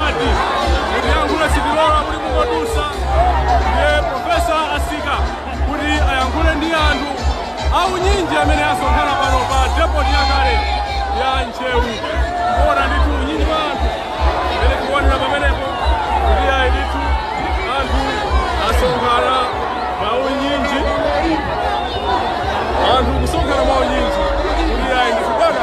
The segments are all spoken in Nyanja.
Ati uyankhula sitilola kuti mungodutsa ndiye profesa atsika kuti ayankhule ndi anthu aunyinji amene asonkhana pano pa depoti yakale ya Ntcheu kuona ndithu unyinji wa anthu amene tikuonera pamenepo kuti ayi ndithu anthu asonkhana mwaunyinji anthu kusonkhana mwaunyinji kuti ayi ndithu bwana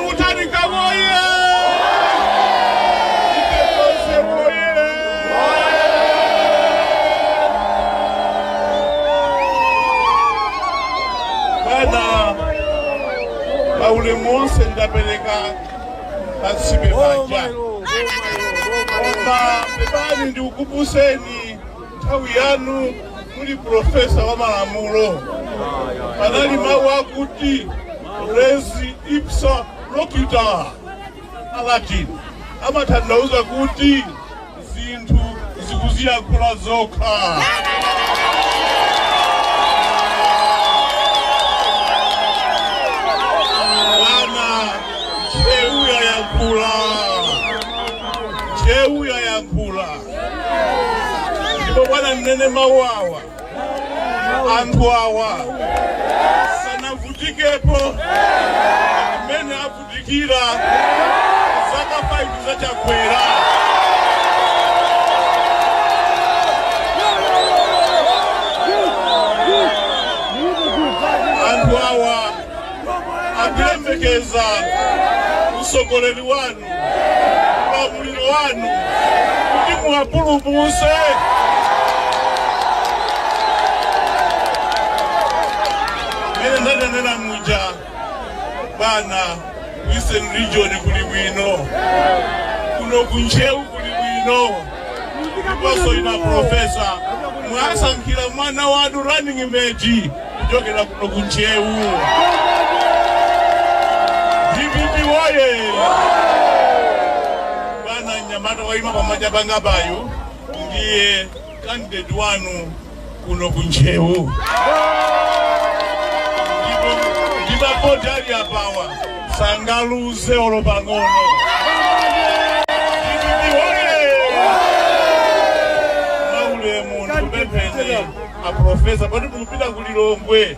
Mutharika woye! Ife tonse woye! Bwana, pa ulemu wonse ndapereka pansibe panja koma pepani ndikuuzeni nthawi yanu muli profesa wa malamulo panali mawu akuti res ipsa loquitur alatin amatanthauza kuti zinthu zikuziyankhula zokha apa Ntcheu yayankhula Ntcheu yayankhula ndipo bwana ndinene mawu awa anthu awa sanavutikepo mmene avutikira zaka 5 za chakwera anthu awa akuyembekeza usogoleri wanu ulamuliro wanu kuti muwapulumuse mene ndanenera muja bwana western region kuli bwino kuno ku Ntcheu kuli bwino ndiponso inu aprofesa mwasankha mwana wanu running mate kuchokera kuno ku ntcheu dpp woye bwana mnyamata waima kumanja kwangayu ndiye candidate wanu kuno ku Ntcheu ndipo ndi mapoti ali apawa sangaluze olo pang'ono. DPP woye! Mwaulemu ndikupempheni a profesa poti mukupita ku Lilongwe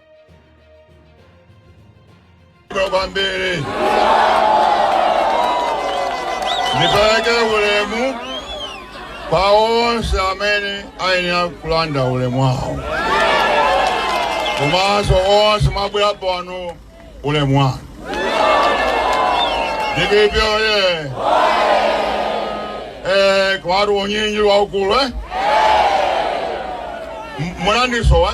kwambiri ndipereke ulemu kwa onse amene ayenera kulandira ulemu wawo komanso onse mwabwera pano ulemu wanu DPP oye eh, kuli unyinji waukulu eh? M- munandisowa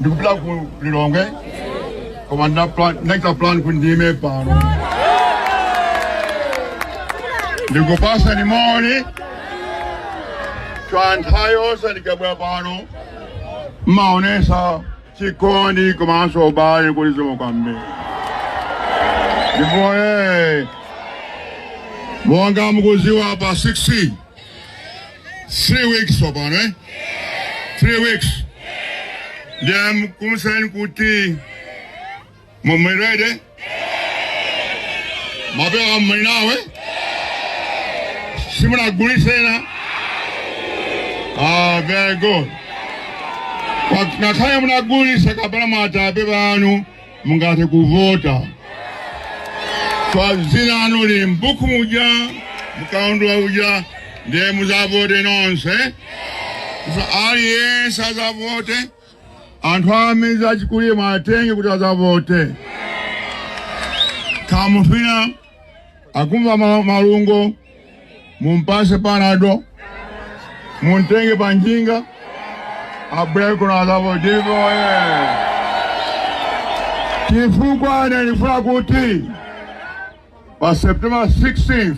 ndimapita ku lilongwe koma ndinachita plan kuti ndiime pano ndikupatseni moni chifukwa nthawi zonse ndikabwera pano mmaonesa chikondi komanso ubale zikomo kwambiri DPP oye, monga mukudziwa pa 16 three weeks yapano eh? three weeks ndiye ndikufunseni kuti mundiuze mapepa muli nawo simunagulitse ah, very good Wa- ngakhale munagulitsa kapena mapepa anu mungathe kuvota chifukwa dzina lanu lili m'buku muja mkaundula uja ndiye mudzavote nonse aliyense adzavote anthu amisala achikulire muwatenge kuti adzavote kaya munthu akumva ma- malungo mumpase panado mumtenge panjinga abwere kuno adzavote DPP oye chifukwa ine ndikufuna kuti pa september 16th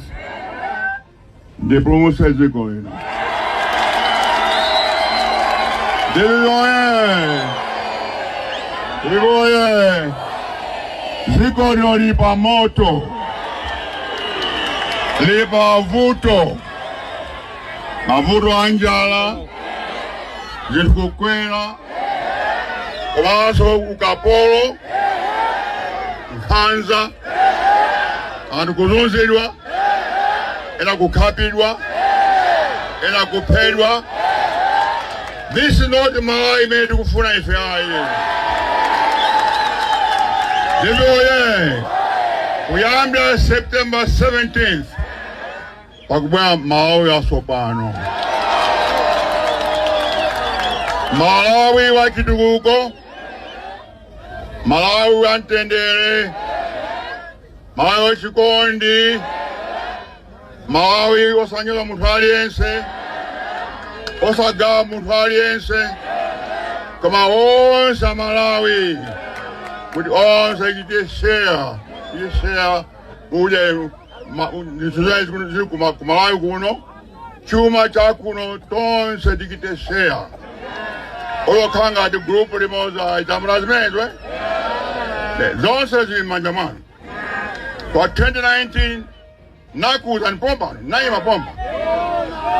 ndipulumutse dziko lino. DPP oye! DPP oye! Dziko lino lili pa moto, lili pa mavuto, mavuto a njala, zinthu kukwera komanso ukapolo nkhanza anthu kuzunzidwa ena kukhapidwa ena kuphedwa this is not malawi imene tikufuna ife ayi DPP oye kuyambira september 17th pakubwera Malawi watsopano, Malawi wa chitukuko, Malawi wa mtendere, Malawi wa chikondi, Malawi osanyoza munthu aliyense, osagawa munthu aliyense, koma onse Amalawi kuti onse achite share, achite share kudya ma- zinthu zimene zikuno- zili kuma- ku Malawi kuno chuma chakuno tonse tichite share osakhala ngati gulupu limodzi chamuna zimenezo eh? Ne, zonse zili m'manja mwanu kwa 2019 nakuuzani pompano nayima pompa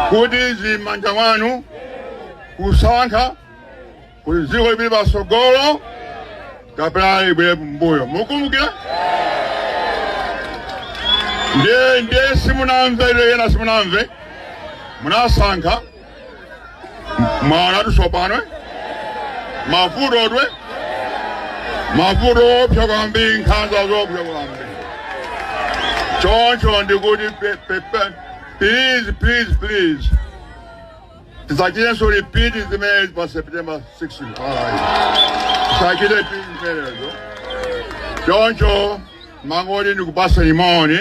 kuti zili m'manja mwanu kusankha kuti dziko lipite patsogolo kapena libwerere mbuyo mukumbukira ndiye ndiye simunamve ilo yena simunamve munasankha mwaonatu tsopano mavuto dwe mavuto oopsa kwambiri nkhanza zoopsa kwambiri choncho ndikuti pe- pe- pe- please please please tisachitenso repeat zimenezi pa september 16 Alright. tisachite repeat zimenezo choncho ndangoti ndikupatseni moni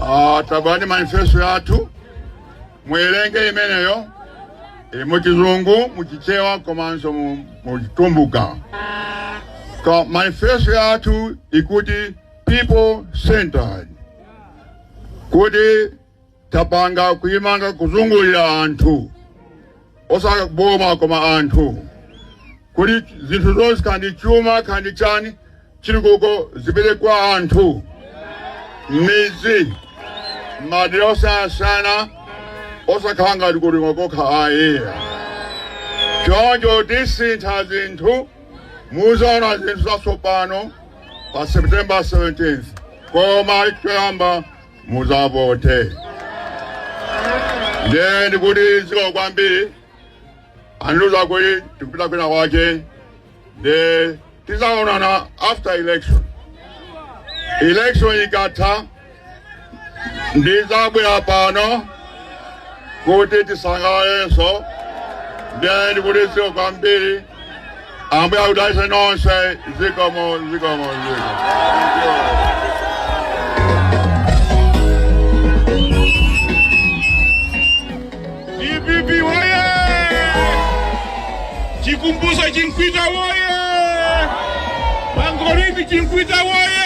Ah, tapezani manifesto yathu muwerenge imeneyo ili mu chizungu mu chichewa komanso mu- mu chitumbuka Ka- manifesto yathu ikuti people centered kuti tapanga kuimanga kuzungulira anthu osati boma koma anthu kuti zinthu zonse kaya ndi chuma kaya ndi chani chitukuko zipite kwa anthu midzi madera osiyanasiyana osakhala ngati kuti ngokokha ayi choncho tisintha zinthu muzaona zinthu zatsopano pa september 17th koma choyamba muzavote ndiye ndikuti zikomo kwambiri andiuza kuti tikupita kwina kwake ndi tizaonana after election election ikatha ndizabwera pano kuti tisangalalenso ndiye ndikuti zikomo kwambiri Ambuye akudalitseni nonse zikomo zikomo zikomo. DPP woye! Chikumbutso Chimkwita woye! Bangolini Chimkwita woye!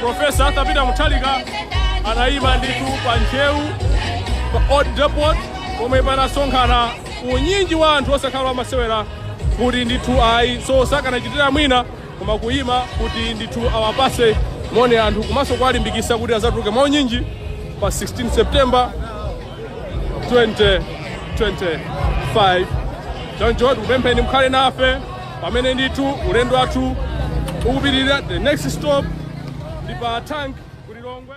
Profesa Arthur Peter Mutharika anayima ndithu pa Ntcheu pa Old Depot pomwe panasonkhana unyinji wa anthu osakhala amasewera kuti ndithu ayi so sakanachitira mwina koma kuyima kuti ndithu awapase moni anthu komanso kuwalimbikisa kuti azatuluke mwa unyinji pa 16 September 2025 choncho tikupempheni mukhale nafe pamene ndithu ulendo wathu ukupitirira the next stop ndi pa tank ku lilongwe